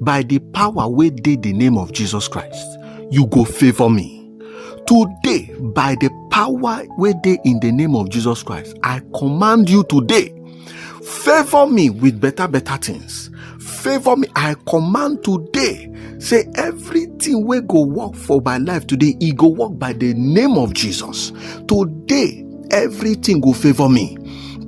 by the power wey dey the name of jesus christ you go favour me today by the power wey dey in the name of jesus christ i command you today favour me with better better things favour me i command today say everything wey go work for my life today e go work by the name of jesus today everything go favour me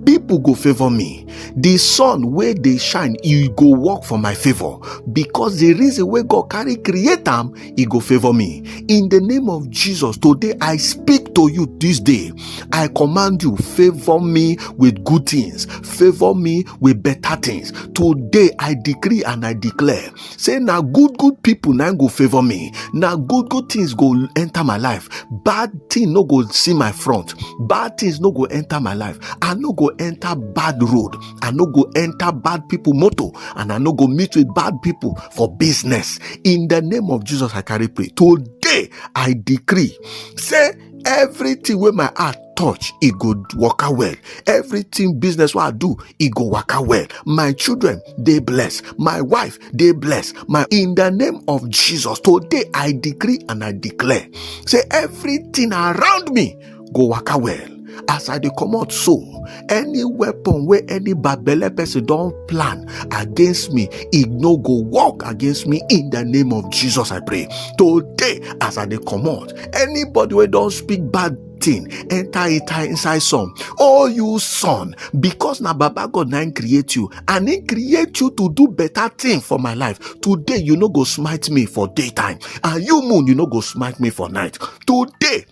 people go favour me the sun wey dey shine e go work for my favor because the reason wey god carry create am e go favor me in the name of jesus today i speak to you this day i command you favor me with good things favor me with better things today i decree and i declare say na good good people na go favor me na good good things go enter my life bad thing no go see my front bad things no go enter my life i no go enter bad road i no go enter bad people motor and i no go meet with bad people for business in the name of jesus i carry pray today i decree say everything wey my heart touch e go waka well everything business wey i do e go waka well my children dey blessed my wife dey blessed my in the name of jesus today i decree and i declare say everything around me go waka well as i dey comot so any weapon wey any babele person don plan against me e no go work against me in the name of jesus i pray today as i dey comot Anybody who don't speak bad thing enter enter inside some oh you son because na baba god na create you and he create you to do better thing for my life today you no go smite me for daytime and you moon you no go smite me for night today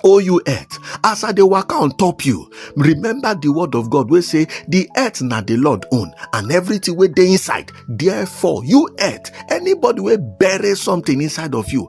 O you earth, as I dey waka on top you, remember the word of God wey say the earth na the Lord own and everything wey dey inside. Therefore, you earth, anybody wey bury something inside of you,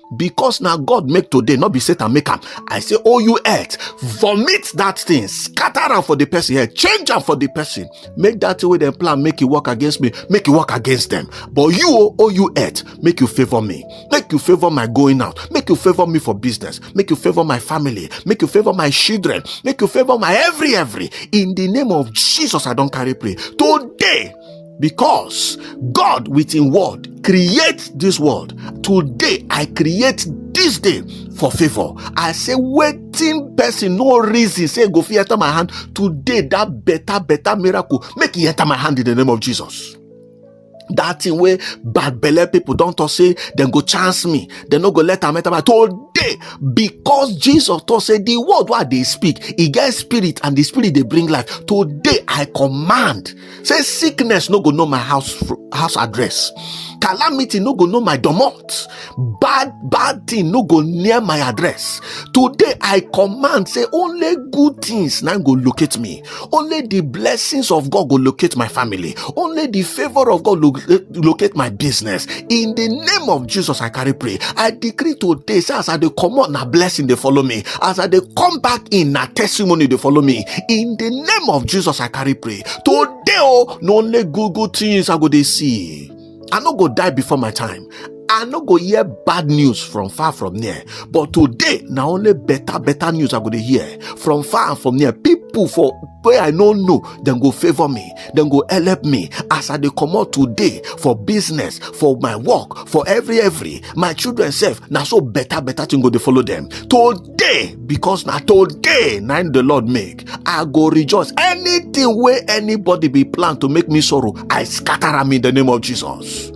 because na god make today not be satan make am i say oh you earth vomit that thing scatter am for the person head change am for the person make that thing wey dem plan make e work against me make e work against them but you oh, oh you earth make you favour me make you favour my going out make you favour me for business make you favour my family make you favour my children make you favour my every every in the name of jesus i don carry pray today because God with him word create this world. Today I create this day for favor. I say waiting person no reason say go fit enter my hand today that better better miracle make it enter my hand in the name of Jesus. That thing way bad belly people don't talk say then go chance me They no go let am enter my today because Jesus talk say the word what they speak it gets spirit and the spirit they bring life today I command say sickness no go know my house house address calamity no go know my domot bad bad thing no go near my address today i command say only good things now go locate me only the blessings of god go locate my family only the favor of god lo- eh, locate my business in the name of jesus i carry pray i decree today say as i dey comot na blessing dey follow me as i dey come back in na testimony dey follow me in the name of jesus i carry pray today oh, no only good good things i go dey see i no go die before my time i no go hear bad news from far from near but today na only better better news i go dey hear from far and from near people for wey i no know dem go favour me dem go help me as i dey comot today for business for my work for every every my children sef na so better better thing go dey follow dem today because na today na the lord make i go rejoice anything wey anybody be plan to make me sorrow i scatter am in the name of jesus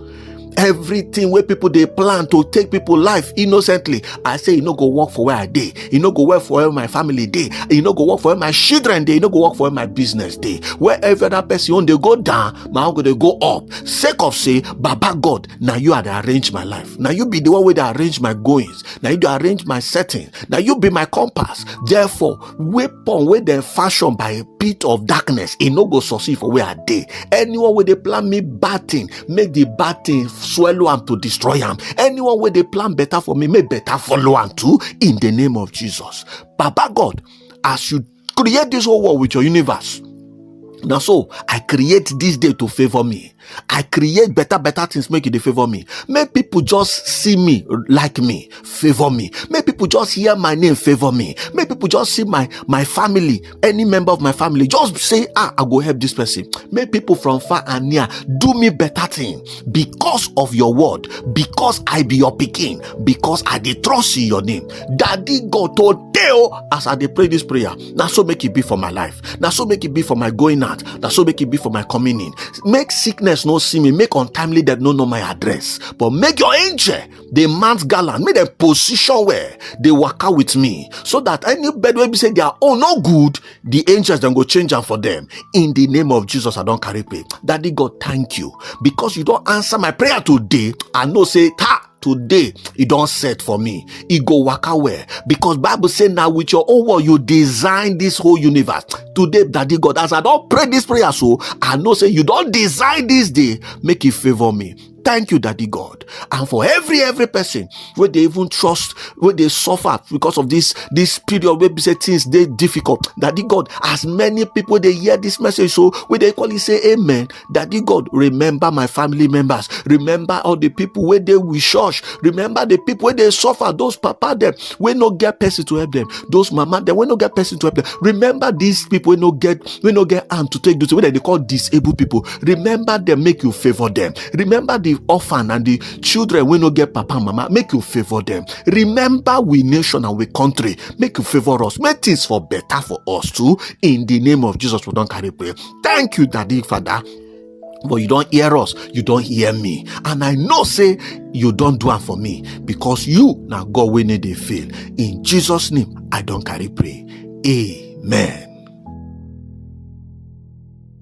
everything wey people dey plan to take people life innocently i say e no go work for where i dey e no go work for where my family dey e no go work for where my children dey e no go work for where my business dey where every other person own dey go down my own go dey go up sake of say baba god na you i dey arrange my life na you be the one wey dey arrange my goings na you dey arrange my setting na you be my compass therefore weapon wey dem fashion by a pit of darkness e no go succeed for where i dey anyone wey dey plan me bad thing make the bad thing swallow am to destroy am anyone wey dey plan better for me make better follow am too in the name of jesus baba god as you create this whole world with your universe na so i create this day to favour me i create better better things make e dey favour me make people just see me like me favour me make people just hear my name favour me make people just see my my family any member of my family just say ah i go help this person make people from far and near do me better thing because of your word because i be your picking, because i dey trust in your name daddy god told teo oh, as i dey pray this prayer Now so make it be for my life Now so make it be for my going out Now so make it be for my coming in make sickness no see me make untimely death no know my address but make your angel dey mount gallant make dem position well dey waka with me so that any bed wey be say their own no good the angels dem go change am for them in the name of jesus i don carry pay daddy god thank you because you don answer my prayer today i know say ta today e don set for me e go waka well because bible say na with your own word you design this whole universe today daddy god as i don pray this prayer so i know say you don design this day make e favour me thank you daddy god and for every every person where they even trust where they suffer because of this this period where be say things they difficult daddy god as many people they hear this message so where they call it say amen daddy god remember my family members remember all the people where they we shush remember the people where they suffer those papa them we no get person to help them those mama them we no get person to help them remember these people we no get we no get hand to take duty where they call disabled people remember them make you favor them remember the orphan and the children we no get papa and mama make you favor them remember we nation and we country make you favor us make things for better for us too in the name of jesus we don't carry pray thank you daddy father but you don't hear us you don't hear me and i know say you don't do it for me because you now god wey need dey fail in jesus name i don't carry pray amen.